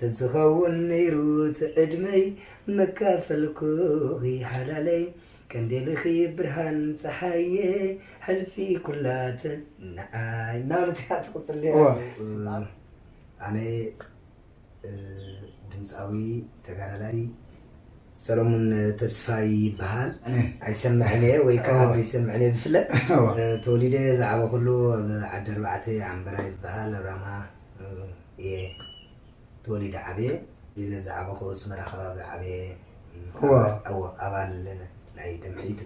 ተዝኸውን ነይሩ እቲ ዕድመይ መካፈልኩኺ ሓላለይ ቀንዴልኺ ብርሃን ጸሓየ ሕልፊ ኩላ ትንዓይ እናበለት እያ ትቕጽል እዋ ነይራ። ኣነ ድምጻዊ ተጋዳላይ ሰለሙን ተስፋይ ይበሃል። ኣይሰምዕን እየ ወይ ከኣ ብዘይሰምዕን እየ ዝፍለጥ። ተወሊደ ዝዓበኹሉ ኣብ ዓዲ ኣርባዕተ ዓምበራይ ዝበሃል ኣብ ራማ፣ እየ ተወሊደ ዓብየ ኢለ ዝዓበኹ ኣስመራ ከባቢ ዓብየ እወ ኣባል ናይ ደምሒት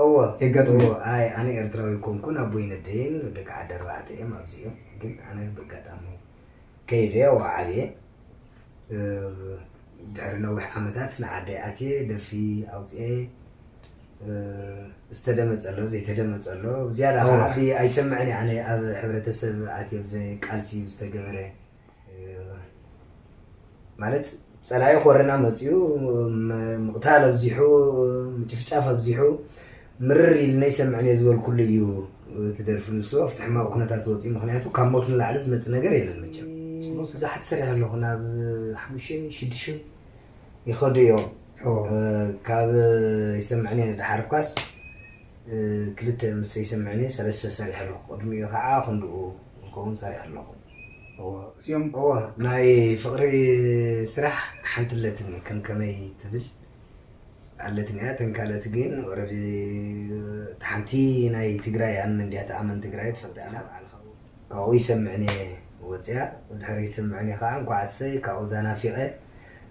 እወ የጋጥም እወ ኣይ ኣነ ኤርትራዊ ኣይኮንኩን ኣቦይን ኣደይን ደቂ ዓዲ ኣርባዕተ እዮም ኣብዚ እዮም ግን ኣነ በጋጣሚ ከይደ እወ ዓብየ ድሕሪ ነዊሕ ዓመታት ንዓደይ ኣትየ ደርፊ ኣውፅኤ ዝተደመጸ ኣሎ ዘይተደመጸ ኣሎ ዝያዳ ከኣ ኣቢ ኣይሰምዕን እየ ኣነ ኣብ ሕብረተሰብ ኣትዮ ብዘ ቃልሲ ዝተገበረ ማለት ጸላኢ ኮረና መጽኡ ምቕታል ኣብዚሑ ምጭፍጫፍ ኣብዚሑ ምርር ኢልና ይሰምዕን እየ ዝበልኩሉ እዩ እቲ ደርፊ ንሱ ኣብቲ ሕማቕ ኩነታት ወፅኡ ምክንያቱ ካብ ሞት ንላዕሊ ዝመፅእ ነገር የለን መቸም ብዙሓት ሰሪሕ ኣለኹ ናብ ሓሙሽተ ሽዱሽተ ይኸዱ እዮም ካብ ይሰምዕኒ እየ ንደሓር እኳስ ክልተ ምስ ይሰምዕኒ ሰለስተ ሰሪሐ ኣለኹ ቅድሚኡ ከዓ ክንድኡ ዝኸውን ሰሪሐ ኣለኹ ናይ ፍቅሪ ስራሕ ሓንቲ ኣለትኒ ከም ከመይ ትብል ኣለትኒ እያ እተን ካልኦት ግን ኦረዲ እታ ሓንቲ ናይ ትግራይ ኣንመንድያ ተኣመን ትግራይ ትፈልጣ ኢና ካብኡ ይሰምዕን እየ ወጽያ ድሕሪ ይስምዕኒ ከኣ እንኳዕ ኣሰይ ካብኡ እዛ ናፊቀ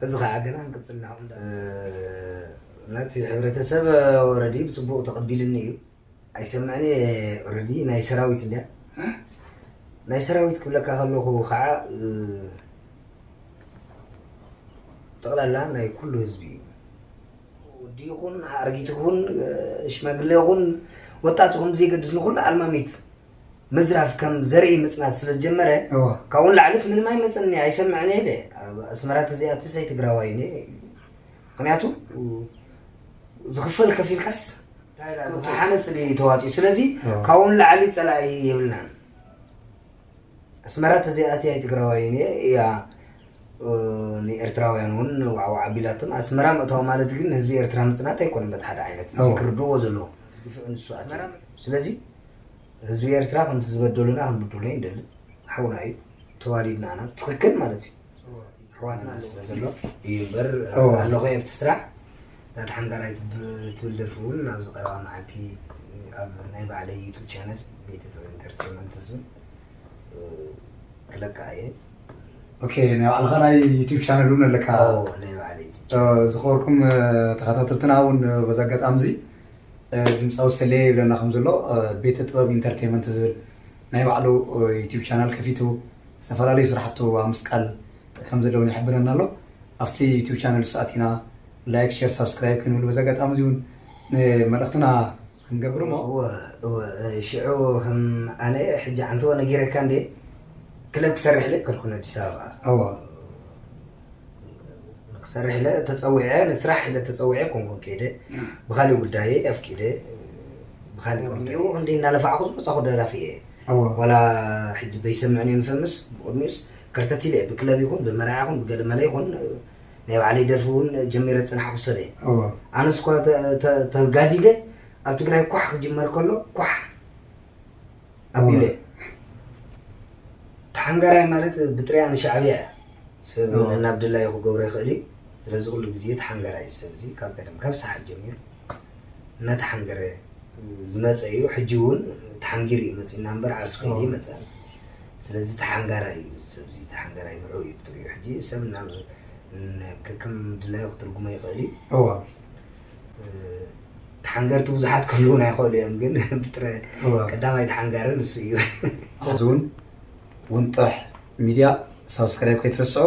ሕዚ ከኣ ገና ክንቅጽል ኢና እንዳ በሉ ነቲ ሕብረተሰብ ኦረዲ ብጽቡቅ ተቀቢልኒ እዩ ኣይሰምዕን እየ ኦረዲ ናይ ሰራዊት እንድያ ናይ ሰራዊት ክብለካ ከለኩ ከኣ ጠቅላላ ናይ ኩሉ ህዝቢ እዩ ወዲ ይኹን ኣርጊት ይኹን ሽማግለ ይኹን ወጣት ይኹን ብዘይገድስ ንኩሉ ኣልማሚት ምዝራፍ ከም ዘርኢ ምጽናት ስለ ዝጀመረ እወ ካብኡ ንላዕልስ ምንም ኣይመጽእን እየ ኣይሰምዕን እየ ኢለ ኣብ ኣስመራ ተዘይኣቲ ሰይ ትግራዋይ እየ ነይረ ኢሉ ምክንያቱ ዝኽፈል ከፊልካስ ሓነፅ ድዩ ተዋፂኡ ስለዚ እወ። ካብኡ ንላዕሊ ፀላኢ የብልናን ኣስመራ ተዘይኣትያ እየ ትግራዋይ እየ እያ እ፣ ንኤርትራውያን እውን ዋዕዋዕ ኣቢላቶም ኣስመራ ምእታው ማለት ግን ንህዝቢ ኤርትራ ምጽናት ኣይኮነን በቲ ሓደ ዓይነት እወ። ክርድዎ ዘለዎ ግፍዒ ንሱ ኣትዩ ስለዚ ህዝቢ ኤርትራ ከምቲ ዝበደሉና ክንብድሎ ኣይንደልን ሓውና እዩ ተዋዲድና ኢና ትኽክል ማለት እዩ ኣሕዋትና ስለ ዘሎ እዩ እምበር እዎ። ኣለኹ ኤርት ስራሕ እታ ተሓንጋራይ ትብ- ትብል ደርፊ እውን ኣብዚ ቀረባ መዓልቲ ኣብ ናይ ባዕለይ ዩቱብ ቻነል ቤተ ጥበብ ኢንተርቴንመንት ዝብል እ፣ ክለቅዓ እየ ኦኬ ናይ ባዕልኻ ናይ ዩቲብ ቻነል እውን ኣለካ ኣዎ፣ ናይ ባዕለይ ዩቱብ ዝኸበርኩም ተኸታተልትና እውን በዚ ኣጋጣሚ እዚ ድምፃዊ ሰሌ ይብለና ከም ዘሎ ቤተ ጥበብ ኢንተርቴመንት ዝብል ናይ ባዕሉ ዩቲብ ቻናል ከፊቱ ዝተፈላለዩ ስራሕቱ ኣብ ምስቃል ከም ዘሎ እውን ይሕብረና ኣሎ ኣብቲ ዩቲብ ቻነል ሰኣቲና ላይክ ሼር ሳብስክራይብ ክንብል በዚ ኣጋጣሚ እዚ እውን መልእክትና ክንገብር እሞ ሽዑ ከም ኣነ ሕጂ ዓንተዎ ነጊረካ እንዴ ክለብ ክሰርሕ ለ ከልኩን ኣዲስ ኣበባ ንክሰርሕ ኢለ ተፀዊዐ ንስራሕ ኢለ ተፀዊዐ ኣይኮንኩን ከይደ ብካሊእ ጉዳየ ኣፍቂደ ብካሊእ ቅድሚኡ ክንዲ እናለፋዕኩ ዝመፃኹ ደራፊ እየ ዋላ ሕጂ በይሰምዕን እየ ንፈምስ ብቅድሚኡስ ከርተት ኢለ እየ ብክለብ ይኹን ብመርዓ ይኹን ብገለመለ ይኹን ናይ ባዕለይ ደርፊ እውን ጀሚረ ዝፅናሕኩ ሰብ እየ ኣነስ እኳ ተጋዲደ ኣብ ትግራይ ኳሕ ክጅመር ከሎ ኳሕ ኣቢለ እየ ተሓንጋራይ ማለት ብጥሪያ ንሻዕብያ እያ ሰብ ናብ ድላዩ ክገብሮ ይኽእል እዩ ስለዚ ኩሉ ግዜ ተሓንገራይ ሰብ እዚ ካብ ቀደም ካብ ሰሓት ጀሚሩ እናተሓንገረ ዝመፀ እዩ ሕጂ እውን ተሓንጊሩ እዩ መፅና እምበር ዓርሱ ከይደ ይመፅእ ስለዚ ተሓንጋራይ እዩ ሰብ እዚ ተሓንጋራይ ንዑ እዩ ብጥሪኡ ሕጂ ሰብ ናብ ከከም ድላዩ ክትርጉሞ ይኽእል እዩ ተሓንገርቲ ብዙሓት ክህልውና ይኽእሉ እዮም፣ ግን ብጥረ ቀዳማይ ተሓንጋሪ ንሱ እዩ። ሕዚ እውን እውን ጥራሕ ሚድያ ሳብስክራይብ ከይትረስዑ።